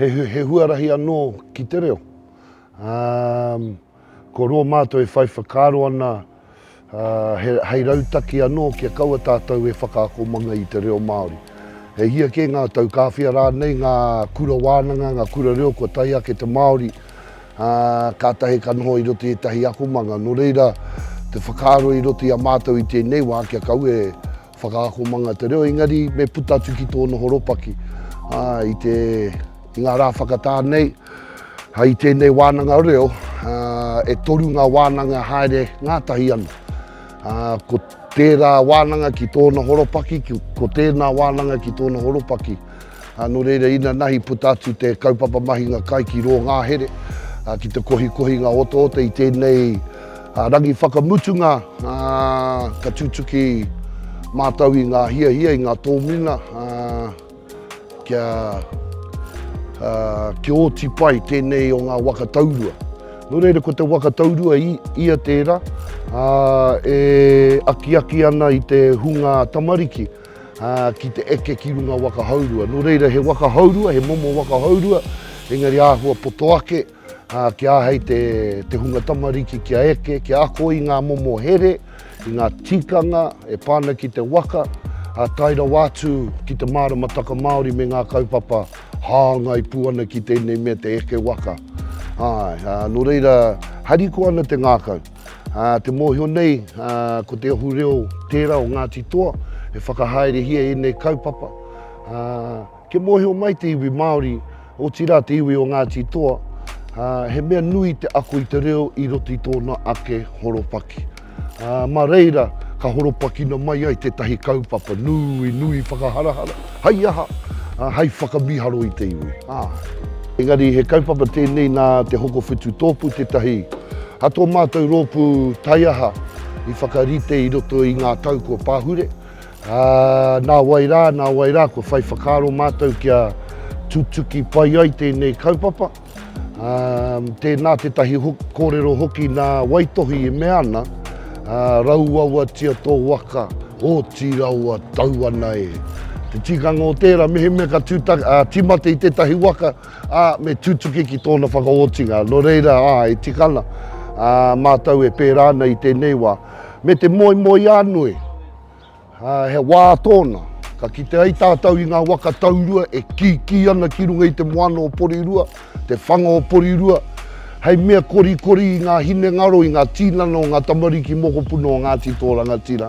He huarahi anō ki te reo. Ko roa mātou e whai whakaaro ana hei rautaki anō kia kaua tātou e whakaakomanga i te reo Māori. E hia kē ngā tau, ka awhia rānei ngā kura wānanga, ngā kura reo kua tae ake te Māori, kātahi ka noho i roto i ētahi akomanga. Nō reira, te whakaaro i roto i a mātou i tēnei wā kia kaua e. Whakaakomanga te reo, engari me puta atu ki tōna horopaki. Ā, i te, i ngā rā whakatā nei, hei tēnei wānanga reo, ā, e toru ngā wānanga haere ngātahi ana. Ā, ko tērā wānanga ki tōna horopaki, ko tēnā wānanga ki tōna horopaki. Nō reira, inanahi puta atu te kaupapa mahinga kai ki rō ngahere, ki te kohikohinga otaota i tēnei rangi whakamutunga, ka tutuki mātou i ngā hiahia, i ngā tōmina kia oti pai tēnei o ngā waka taurua. Nō reira, ko te waka taurua ia tērā e akiaki ana i te hunga tamariki. ā, ki te eke ki runga waka hourua. Nō reira, he waka hourua, he momo waka hourua, engari āhua poto ake, ā, kia āhei te, te hunga tamariki kia eke, kia ako i ngā momo here, i ngā tikanga e pā ana ki te waka, ā, tae rawa atu ki te māramataka Māori me ngā kaupapa hāngai pū ana ki tēnei mea te eke waka. Āe, ā, nō reira, harikoa ana te ngākau. Te mōhio nei, ko te ohu reo tērā o Ngāti Toa e whakahaerehia ēnei kaupapa. Kia mōhio mai te iwi Māori, otirā te iwi o Ngāti Toa, he mea nui te ako i te reo i roto i tōna ake horopaki. Mā reira ka horopakina mai ai tētahi kaupapa nui, nui whakaharahara, Hei aha? Hei whakamiharo i te iwi, āe. Engari he kaupapa tēnei nā Te Hokowhitu Tōpū tētahi a tō mātou rōpū taiaha i whakarite i roto i ngā tau kua pahure, ā, nā wai rā, nā wai rā kua whai whakaaro mātou kia tutuki pai ai tēnei kaupapa. Tēnā tētahi kōrero hoki nā Waitohi e mea ana, Rauawatia tō waka, otirāua tau ana e. Te tikanga o tērā, mehemea ka tīmata i tētahi waka, ā, me tutuki ki tōna whakaotinga. Nō reira, ā, e tika ana mātou e pērā ana i tēnei wā. Me te moemoeānui. He wā tōna, ka kite ai tātou i ngā waka taurua e kīkī ana ki runga i te moana o Porirua, te whanga o Porirua, hei mea korikori i ngā hinengaro, i ngā tīnana o ngā tamariki mokopuna o Ngāti Tōrangatira.